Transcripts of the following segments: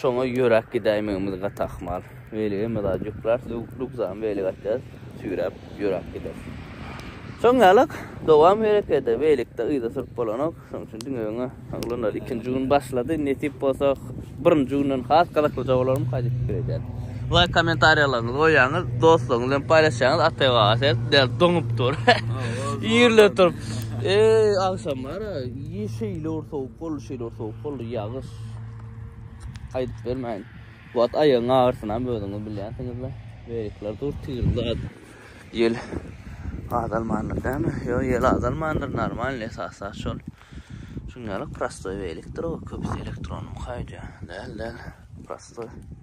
Şoňa ýöräp gidäýmegimiz gaty ahmal. Weligem zat ýok. Biraz rugzany welige atýarys, süýräp ýöräp gideris. Şoň ýalak, dowam herekede. Welikde yza sürüp bolanok. Şoň üçin diňe öňe. Oglanlar ikinji gün başlady. Nesip bolsa, birinji günden has gyzyklyja bolar mı, kaýdyp pikir edýän. Laýk kommentariýalaryňyzy goýýaňyz, dostlaryňyz bilen paýlaşýaňyz. Ataý aga sen däl doňup dur. Ýerle turup. Eý, agşam bar-a, şeýle bir sowuk boldy, şeýle bir sowuk boldy, ýagyş. Aýdyp bermäýin. Bu at aýagyň agyrsyny özüňiz bilýänsiňizle. Beýikler dur tirli at. Ýel azalmandyr dämi? Ýo, ýel azalmandyr, normal esasy at şol. Şuňňalyk prostoý beýikdir o, köpüsi elektron mukaýja. Däl, däl, prostoý.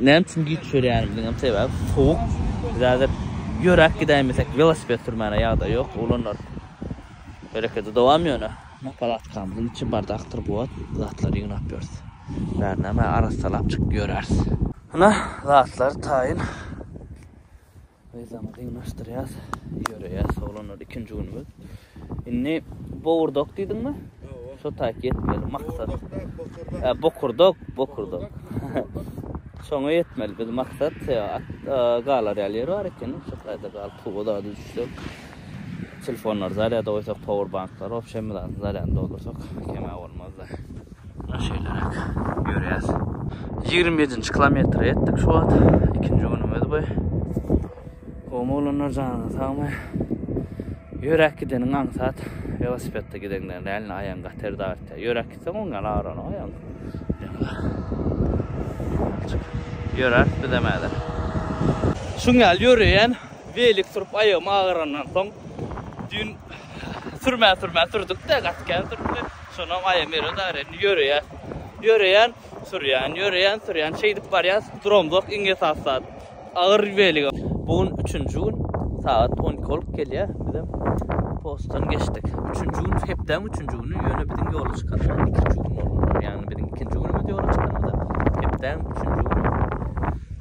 Näme üçin giç ýörýänimiziň hem sebäbi sowuk. Biz häzir ýöräp gidäýmesek, welosiped sürmäne ýagdaý ýok. Oglanlar herekete dowam ýöne. Muňa palatkamyzyň içi bardakdyr bu wagt. Zatlary ýygnap ýörüs. Bärinem arassalap çykyp ýöräris. Ynha, zatlar taýyn. Yzamy dynlaşdyrýas. Ýöreýäs oglanlar ikinji günümiz. Indi bowurdok diýdiňmi? Ýok. Şo taýt ýetmeli maksat. Bokurdok. E, bokurdok, bokurdok. Şoňa ýetmeli biz maksat. At galar ýaly ýer bar eken. Şo taýda galyp, bu zady düşsek. Telefonlary zarýada goýsak, powerbanklary, obşem bizatyň zarýadyny doldursak, kemä bolmazdy. Muna şeýleräk ýörýäs. Ýigrimi ýedinji kilometre ýetdik şu wagt. Ikinji günümiz bu. Gowy oglanlar janyňyz sagmy? Ýöräp gideniň aňsat, welosipedde gideňden dälini aýagyň gaty erde agyrtýar. Ýöräp gitseň oň ýaly agyranyok aýagyň. Ýöräp bizem häzir. Şuň ýaly ýöreýän. Welik sürüp aýagym agyrandan soň düýn sürmän sürmän sürdükde gaty kän sürüpdi. Şonam aýagym ýere dagry indi ýöreýän. Ýöreýän, sürýän, ýöreýän, sürýän. Şeýdip barýas, duramzok iň esasy zat. Agyr welige. Bu gün üçünji gün sagat on iki bolup gelýär. Bizem postdan geçdik. Üçünji gün hepdäň üçünji güni ýöne biziň ýola çykanymyz ikinji gün bolupdyr. Ýagny biziň ikinji günümiz ýola çykanymyza hepdäň üçünji güni.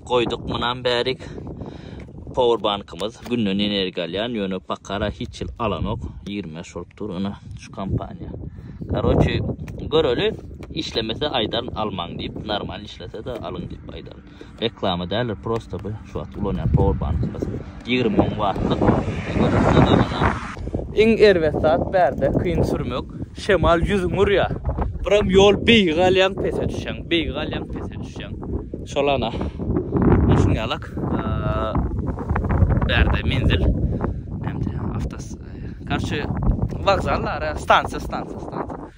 Goýduk munam bärik powerbankymyz günden energiýa alýan ýöne pakara hiç ýyl alanok 25 bolup dur ina şu kompaniýa karoçe göreli işlemese aýdaryn almaň diýip normal işlese de alyň diýip aýdaryn reklama däldir prosta bu şu wagt ulanýan powerbankymyz Ýigrimi müň wattlyk elektrik gazanýar. Iň erbet zat bärde kyn sürmek, şemal ýüzüňi urýar. Biram ýol beýigi galýaň pese düşýäň, beýigi galýaň pese düşýäň. Şol ana şuňýalak bärde menzil näme diýýär awtos korçe wokzal ara stansiýa stansiýa stansiýa.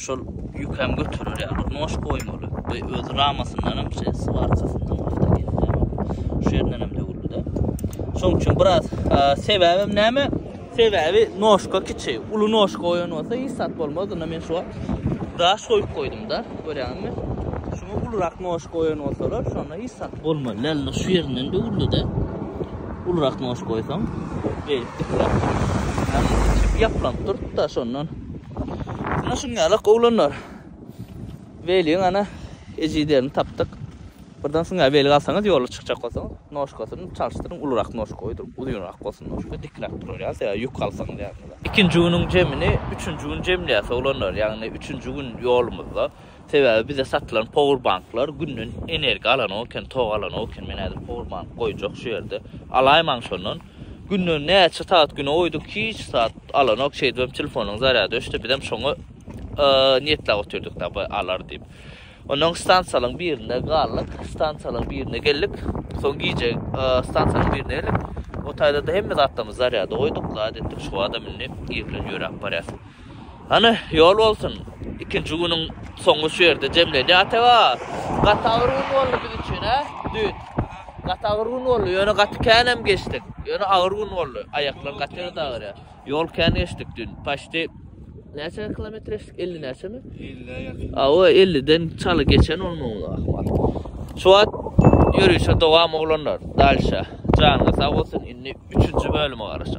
Şol ýük hem göterer ýaly bir noş goýmaly. Bu öz ramasyndanam şeý swarkasyndanam awtogendanam şu ýerinden hem döwüldi-de. Şoň üçin biraz sebäbim näme? Sebäbi noşka kiçi. Uly noşka goýan bolsa hiç zat bolmazdy. Indi men şu wagt daş goýup goýdum-da. Görýäňizmi? Şuňa ulurak noş goýan bolsalar, şonda hiç zat bolmazdy. Indi şu ýerinden döwüldi-de. Ulurak noş goýsaň, beýdip dikläp. Ýapylyp durdy-da şondan. Ana şuny alak oglanlar. Weliň ana ejiderini tapdyk. Birden suňa weli galsaňyz ýola çykjak bolsaňyz, noşkasyny çalşdyryň, ulurak noşka goýduryň, uzynrak bolsun noşka, dikräk durar ýa söýä ýük alsaňyz ýanyňyza. Ikinji günüň jemini üçünji gün jemleýäs oglanlar, ýagny üçünji gün ýolumyzda. Sebäbi bize satylan powerbanklar günden energiýa alanok eken, tok alanok eken, men häzir powerbank goýjak şu ýerde, alaýmaň şondan. Günden näçe sagat güne goýduk, hiç zat alanok, şeýdibem telefonyň zarýady öçdi, bizem şoňa niýetläp otyrdyk da bu alar diýip. Ondan stansiýalaryň birinde galdyk, stansiýalaryň birine geldik. Soň gije stansiýanyň birine geldik. O taýda-da hemme zatlarymyzy zarýada goýduk, zat etdik, Şuba-da mündik, ir bilen ýöräp barýas. Hany, ýol bolsun! Ikinji günüň soňy şu ýerde jemlenýär. Ataba, gaty agyr gün boldy biz üçin, hä? Düýn. Gaty agyr gün boldy, ýöne gaty kän hem geçdik. Ýöne agyr gün boldy. Aýaklar gaty ýerde agyrýar. Ýol kän geçdik düýn. Paçti näçe kilometr geçdik? Elli näçemi? Elli-ä ýakyn. Hawa, elliden çaly geçen bolmaly ahmal. Şu wagt ýörişe dowam oglanlar. Dalşa. Janyňyz sag bolsun. Indi üçünji bölüme garaşaly.